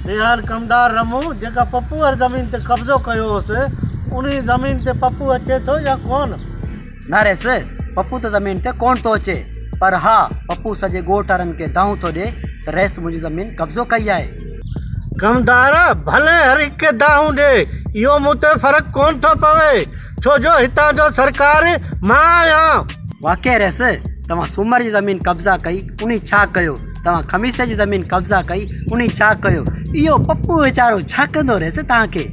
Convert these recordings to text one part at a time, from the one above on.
ريحان ڪمدار رمو جيڪا پپو واري زمين تي قبضو ڪيو هوس انهي زمين تي پپو اچي ٿو يا ڪون؟ ناريس پپو ته زمين تي ڪون ٿو اچي پر ها پپو سڄي ڳوٺ وارن کي دانهون ٿو ڏي ته رئيس منهنجي زمين قبضو ڪئي آهي. ڪمدار ڀلي هر هڪ کي دانهون ڏي اهو مون تي فرق ڪون ٿو پوي ڇو جو هتان جو سرڪار مان آهيان. واقعي رئيس توهان سومر جي زمين قبضا ڪئي انهي ڇا ڪيو؟ توهان خميس جي زمين قبضا ڪئي انهي ڇا ڪيو اهو پپو ويچارو ڇا ڪندو رهيس توهان کي.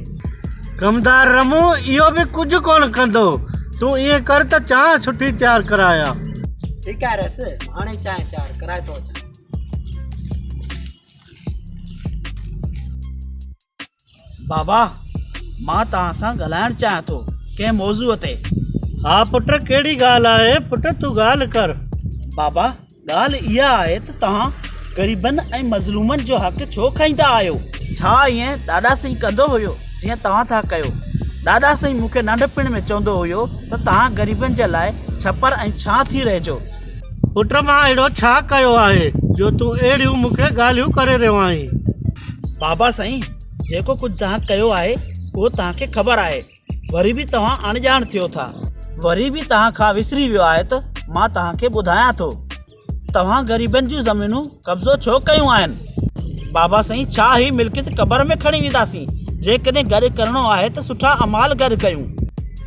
ڪمدار رمون اهو به ڪجهه ڪونه ڪندو تون ائين ڪر ته چانهه سٺي تيار ڪرايا. ٺيڪ آهي رئيس هاڻي چانهه تيار ڪرائي ٿو اچان. بابا مان توهان سان ڳالهائڻ چاهيان ٿو ڪنهن موضوع تي. ها پٽ ڪهڙي ڳالهه آهي پٽ تون ڳالهه ڪر. بابا ڳالهه اها آهي ته توهان غريبن ۽ مظلومن جو حق ڇو کائيندا آهيو. ڇا ائين ڏاڏا سائين ڪندو هيو جيئن توهان ٿا ڪيو. ڏاڏا سائين مون کي ننڍپڻ ۾ چوندو هيو ته توهان غريبن جي لاء ڇپر ۽ ڇانه ٿي رهجو. پٽ مان اهڙو ڇا ڪيو آهي جو تون اهڙيون مون کي ڳالهيون ڪري رهيو آهين. بابا سائين جيڪو ڪجهه توهان ڪيو آهي اهو توهان کي خبر آهي وري به توهان اڻڄاڻ ٿيو ٿا وري به توهان کان وسري ويو آهي ته مان توهان کي ٻڌايان ٿو توهان غريبن جون زمينون قبضو ڇو ڪيون آهن؟ بابا سائين ڇا هي ملڪيت قبر ۾ کڻي وينداسين؟ جيڪڏهن گڏ ڪرڻو آهي ته سٺا اعمال گڏ ڪيون.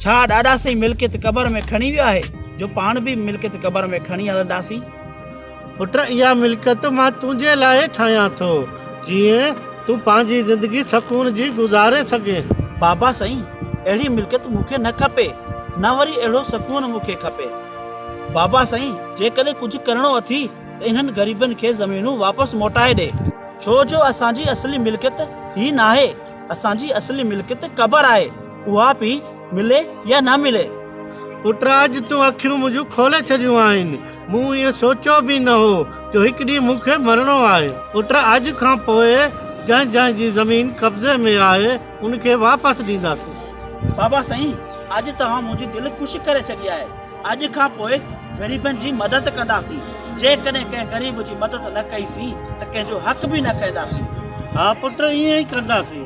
ڇا ڏاڏا سائين ملڪيت قبر ۾ کڻي ويو آهي جو پاڻ به ملڪيت قبر ۾ کڻي هلنداسين؟ پٽ اها ملڪيت مان تنهنجي لاء ٺاهيان ٿو جيئن تون پنهنجي زندگي سڪون جي گذاري سگهين. بابا سائين اهڙي ملڪيت مون کي نه کپي نه وري اهڙو سڪون مون کي کپي. بابا سائين جيڪڏهن ڪجهه ڪرڻو اٿي ته انهن غريبن کي زمينون واپس موٽائي ڏي. ڇو جو اسان جي اصلي ملڪيت هي ناهي، اسان جي اصلي ملڪيت قبر آهي، اها پي ملي يا نه ملي. پٽراج تون اکيون منهنجون کولي ڇڏيون آهن، مون ائين سوچيو به نه هو جو هڪ ڏينهن مون کي مرڻو آهي. پٽراج کان پوء جنهن جنهن جي زمين قبضي ۾ آهي ان کي واپس ڏينداسين. بابا سائين اڄ توهان منهنجي دل خوش ڪري ڇڏي آهي، اڄ کان پوء غريبن جي مدد ڪنداسين، جيڪڏهن ڪنهن غريب جي مدد نه ڪئي سين ته ڪنهن جو حق به نه کائينداسين. ها پٽ ائين ئي ڪنداسين،